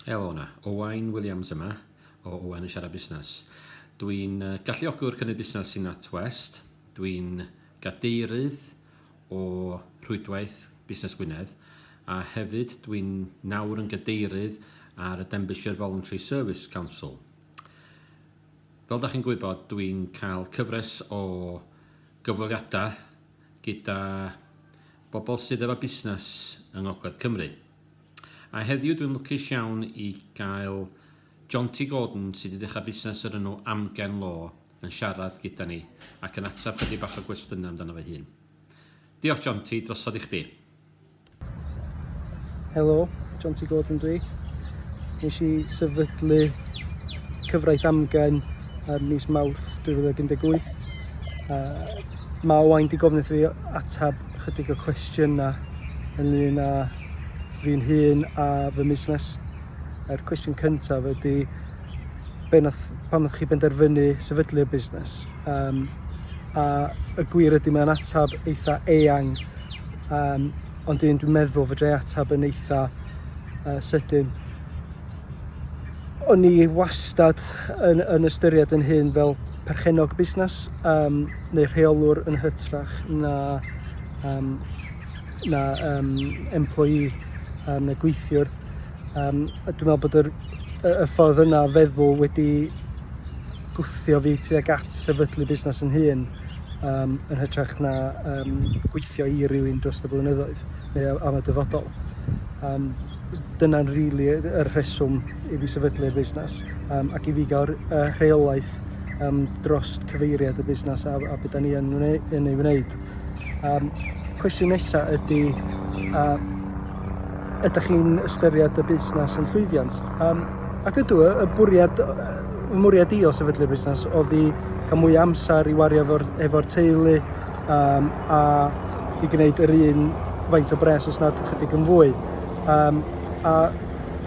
Helo yna, Owain Williams yma o Owain yn siarad busnes. Dwi'n galluogwr cynnydd busnes sy'n NatWest. Dwi'n gadeirydd o Rhwydwaith Busnes Gwynedd a hefyd dwi'n nawr yn gadeirydd ar y Denbighshire Voluntary Service Council. Fel da chi'n gwybod, dwi'n cael cyfres o gyfweliadau gyda bobl sydd efo busnes yng Ngogledd Cymru. A heddiw dwi'n lwcus iawn i gael Jonty Gordon sydd wedi dechrau busnes yr enw Amgen Law yn siarad gyda ni ac yn ateb chydig bach o gwestiynau amdano fy hun. Diolch Jonty, drosodd i chdi. Helo, Jonty Gordon dwi. Nes i sefydlu cyfraith amgen ym mis Mawrth 2018. Uh, mae Owain di gofyn fi atab chydig o cwestiynau ynglyn â fi'n hun a fy musnes. Yr cwestiwn cyntaf ydy, pam ydych chi benderfynu sefydlu'r busnes? Um, a y gwir ydy mae'n atab eitha eang, um, ond un dwi'n meddwl fydre atab yn eitha uh, sydyn. O'n i wastad yn, yn ystyried yn hun fel perchennog busnes um, neu rheolwr yn hytrach na, um, na um, employee um, neu gweithiwr. Um, a dwi'n meddwl bod yr, y, y ffordd yna feddwl wedi gwthio fi tuag at sefydlu busnes yn hun um, yn hytrach na um, gweithio i rywun dros y blynyddoedd neu am y dyfodol. Um, Dyna'n rili y rheswm i fi sefydlu'r busnes um, ac i fi gael y rheolaeth um, dros cyfeiriad y busnes a, a beth da ni yn, yn ei wneud. Um, cwestiwn nesaf ydy, uh, ydych chi'n ystyried y busnes yn llwyddiant? Um, ac ydw, y bwriad, y mwriad i o sefydlu'r busnes oedd i cael mwy amser i wario efo'r efo teulu, um, a i gwneud yr un faint o bres os nad ychydig yn fwy. Um, a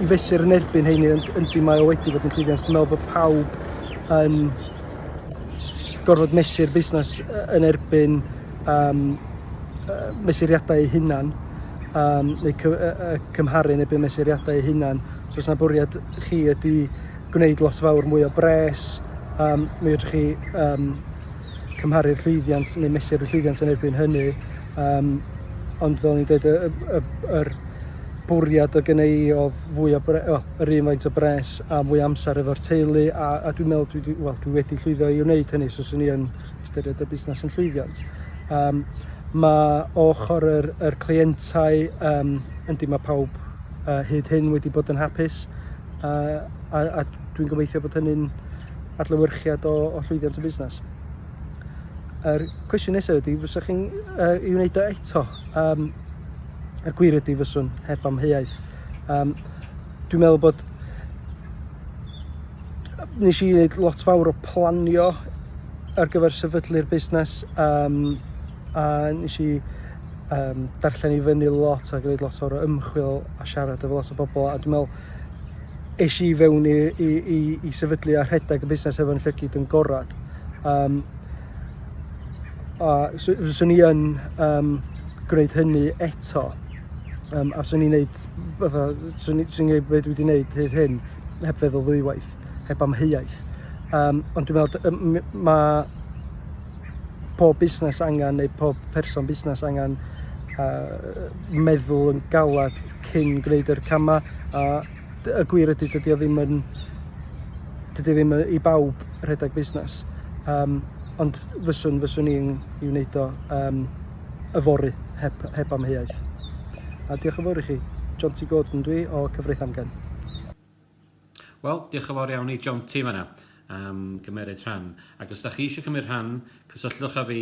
i fesur yn erbyn heini, yndi mae o wedi bod yn llwyddiant. Dwi'n meddwl bod pawb yn gorfod mesur busnes yn erbyn um, mesuriadau eu hunan um, neu cy, uh, cymharu yn erbyn mesuriadau eu hunan. So os yna bwriad chi ydy gwneud lot fawr mwy o bres, um, mi ydych chi um, cymharu'r llwyddiant neu mesur y llwyddiant yn erbyn hynny. Um, ond fel ni'n dweud, y, y, y, yr bwriad o gynnau i oedd fwy o bre, o, yr un faint o bres a fwy amser efo'r teulu a, a dwi'n meddwl dwi, dwi, well, dwi wedi llwyddo i wneud hynny so swn i yn ystyried y busnes yn llwyddiant. Um, mae ochr yr, yr clientau, um, yndi mae pawb uh, hyd hyn wedi bod yn hapus uh, a, a dwi'n gobeithio bod hynny'n adlewyrchiad o, o llwyddiant y busnes. Yr cwestiwn nesaf ydy, fyswch chi'n uh, i wneud o eto? Um, er gwir ydy fyswn, heb amheuaeth. Um, dwi'n meddwl bod... Nes i wneud lot fawr o planio ar gyfer sefydlu'r busnes um, a nes i um, darllen i fyny lot a gwneud lot o'r ymchwil a siarad efo lot o bobl a dwi'n meddwl siop. Es i fewn i, i, i, i sefydlu a rhedeg y busnes hefo'n llygyd yn gorad. Um, a fyswn i yn um, gwneud hynny eto. Um, a fyswn i'n gwneud, fatha, fyswn i'n gwneud beth wedi gwneud hyd hyn, heb feddwl ddwywaith, heb amheuaeth. Um, ond dwi'n meddwl, mae pob busnes angen, neu pob person busnes angen uh, meddwl yn galad cyn gwneud yr camau a y gwir ydy dydy o ddim yn dydy ddim i bawb rhedeg busnes um, ond fyswn fyswn i'n i wneud o um, yfory heb, heb amheuaeth a diolch yn fawr i chi John T Gordon dwi o Cyfraith Amgen Wel, diolch yn fawr iawn i John T fanna am gymeryd rhan. Ac os da chi eisiau cymryd rhan, cysylltwch â fi